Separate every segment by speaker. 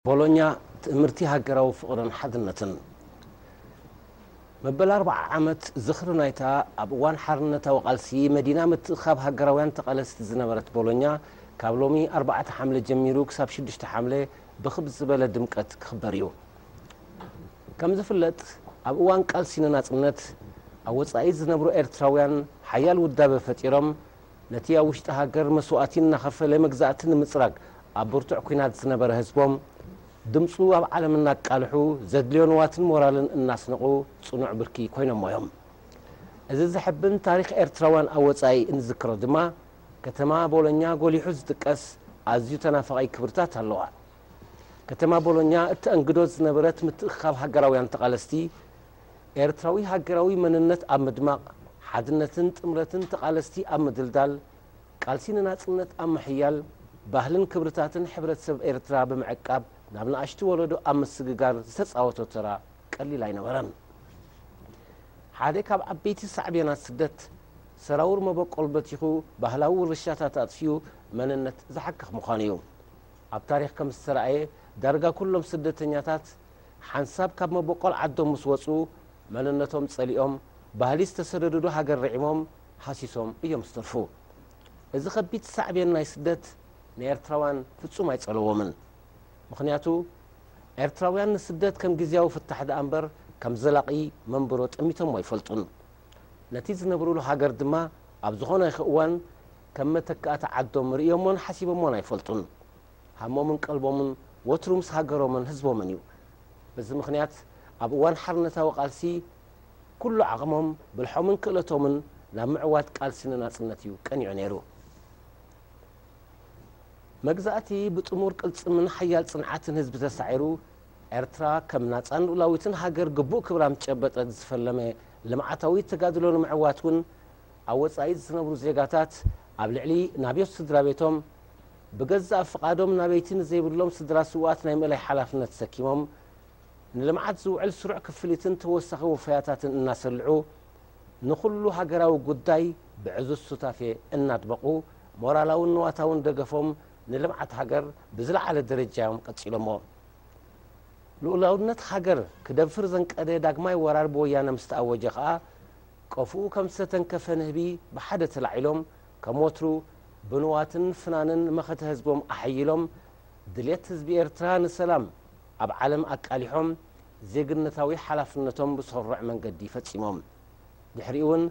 Speaker 1: ቦሎኛ ትእምርቲ ሃገራዊ ፍቕርን ሓድነትን መበል ኣርብዓ ዓመት ዝኽሪ ናይታ ኣብ እዋን ሓርነታዊ ቃልሲ መዲና ምትእኽኻብ ሃገራውያን ተቓለስቲ ዝነበረት ቦሎኛ ካብ ሎሚ ኣርባዕተ ሓምለ ጀሚሩ ክሳብ ሽዱሽተ ሓምለ ብኽብ ዝበለ ድምቀት ክኽበር እዩ። ከም ዝፍለጥ ኣብ እዋን ቃልሲ ንናጽነት ኣብ ወጻኢ ዝነብሩ ኤርትራውያን ሓያል ውዳበ ፈጢሮም ነቲ ኣብ ውሽጢ ሃገር መስዋእቲ እናኸፈለ መግዛእቲ ንምጽራግ ኣብ ብርቱዕ ኲናት ዝነበረ ህዝቦም፣ ድምጹ ኣብ ዓለም እናቃልሑ፣ ዘድልዮ ንዋትን ሞራልን እናስነቑ ጽኑዕ ብርኪ ኮይኖሞ እዮም። እዚ ዘሕብን ታሪኽ ኤርትራውያን ኣብ ወጻኢ እንዝክሮ ድማ፣ ከተማ ቦሎኛ ጎሊሑ ዝጥቀስ ኣዝዩ ተናፋቒ ክብርታት ኣለዋ። ከተማ ቦሎኛ እተኣንግዶ ዝነበረት ምትእኽኻብ ሃገራውያን ተቓለስቲ፣ ኤርትራዊ ሃገራዊ መንነት ኣብ ምድማቕ፣ ሓድነትን ጥምረትን ተቓለስቲ ኣብ ምድልዳል፣ ቃልሲ ንናጽነት ኣብ ምሕያል፣ ባህልን ክብርታትን ሕብረተሰብ ኤርትራ ብምዕቃብ ናብ ንኣሽቱ ወለዶ ኣብ ምስግጋር ዝተጻወቶ ተራ ቀሊል ኣይነበረን። ሓደ ካብ ዓበይቲ ሳዕቤናት ስደት፣ ሰራውር መበቆል በቲኹ ባህላዊ ውርሻታት ኣጥፊኡ መንነት ዝሓክኽ ምዃኑ'ዩ። ኣብ ታሪኽ ከም ዝተራእየ ዳርጋ ኩሎም ስደተኛታት፣ ሓንሳብ ካብ መቦቆል ዓዶም ምስ ወጹ መንነቶም ጸሊኦም ባህሊ ዝተሰደዱሉ ሃገር ርዒሞም ሃሲሶም እዮም ዝተርፉ። እዚ ከቢድ ሳዕቤን ናይ ስደት ንኤርትራውያን ፍጹም ኣይጸለዎምን። ምኽንያቱ ኤርትራውያን ንስደት ከም ግዝያዊ ፍታሕ ደኣ እምበር ከም ዘላቒ መንብሮ ጠሚቶሞ ኣይፈልጡን። ነቲ ዝነብሩሉ ሃገር ድማ ኣብ ዝኾነ ይኽ እዋን ከም መተካእታ ዓዶም ርእዮሞን ሓሲቦሞን ኣይፈልጡን። ሃሞምን ቀልቦምን ወትሩ ምስ ሃገሮምን ህዝቦምን እዩ። በዚ ምኽንያት ኣብ እዋን ሓርነታዊ ቃልሲ ኩሉ ዓቕሞም፣ ብልሖምን ክእለቶምን ናብ ምዕዋት ቃልሲ ንናጽነት እዩ ቀኒዑ ነይሩ። መግዛእቲ ብጥሙር ቅልጽምን ሓያል ጽንዓትን ህዝቢ ተሳዒሩ፣ ኤርትራ ከም ናጻን ልኡላዊትን ሃገር ግቡእ ክብራ ምስ ጨበጠት ዝፈለመ ልምዓታዊ ተጋድሎ ንምዕዋት እውን ኣብ ወጻኢ ዝነብሩ ዜጋታት ኣብ ልዕሊ ናብዮት ስድራቤቶም ብገዛእ ፍቓዶም ናበይቲ ንዘይብሎም ስድራ ስውኣት ናይ ምእላይ ሓላፍነት ሰኪሞም ንልምዓት ዝውዕል ስሩዕ ክፍሊትን ተወሳኺ ወፈያታትን እናሰልዑ ንኹሉ ሃገራዊ ጉዳይ ብዕዙዝ ሱታፌ እናድመቑ ሞራላውን ንዋታውን ደገፎም ንልምዓት ሃገር ብዝለዓለ ደረጃ እዮም ቀፂሎምዎ። ልኡላውነት ሃገር ክደፍር ዘንቀደ ዳግማይ ወራር ብወያነ ምስተኣወጀ ከዓ ቀፎኡ ከምዝተተንከፈ ንህቢ ብሓደ ተላዒሎም ከም ወትሩ ብንዋትን ፍናንን መኸተ ህዝቦም ኣሐይሎም፣ ድልየት ህዝቢ ኤርትራ ንሰላም ኣብ ዓለም ኣቃሊሖም ዜግነታዊ ሓላፍነቶም ብሰሩዕ መንገዲ ፈጺሞም። ድሕሪኡ'ውን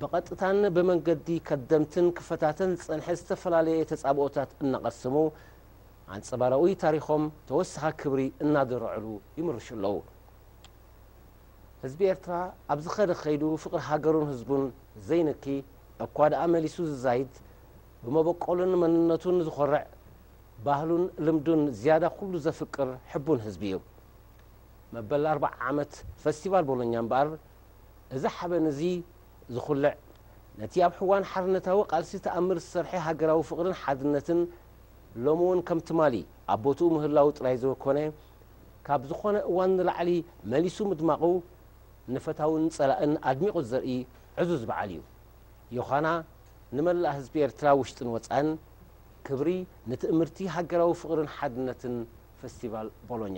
Speaker 1: ብቐጥታን ብመንገዲ ከደምትን ክፈታተን ዝጸንሐ ዝተፈላለየ ተጻብኦታት እናቐሰሙ፣ ኣንጸባራኡይ ታሪኾም ተወሳኺ ክብሪ እናደረዑሉ ይምርሹ ኣለዉ። ህዝቢ ኤርትራ ኣብ ዝኸደ ከይዱ ፍቕሪ ሃገሩን ህዝቡን ዘይንኪ፣ እኳ ደኣ መሊሱ ዝዛይድ፣ ብመበቆሉን መንነቱን ዝኾርዕ፣ ባህሉን ልምዱን ዝያዳ ኩሉ ዘፍቅር ሕቡን ህዝቢ እዩ። መበል ኣርብዓ ዓመት ፈስቲቫል ቦሎኛ እምበኣር፣ እዚ ሓበን እዚ ዝኹልዕ፣ ነቲ ኣብ ሕዋን ሓርነታዊ ቃልሲ ተኣምር ዝሰርሐ ሃገራዊ ፍቕርን ሓድነትን ሎሚ እውን ከም ትማሊ ኣብ ቦትኡ ምህላዉ ጥራይ ዘወኮነ፣ ካብ ዝኾነ እዋን ንላዕሊ መሊሱ ምድማቑ ንፈታውን ጸላእን ኣድሚቑ ዘርኢ ዕዙዝ በዓል እዩ። ዮሃና ንመላእ ህዝቢ ኤርትራ ውሽጥን ወጻእን ክብሪ ንትእምርቲ ሃገራዊ ፍቕርን ሓድነትን ፈስቲቫል ቦሎኛ።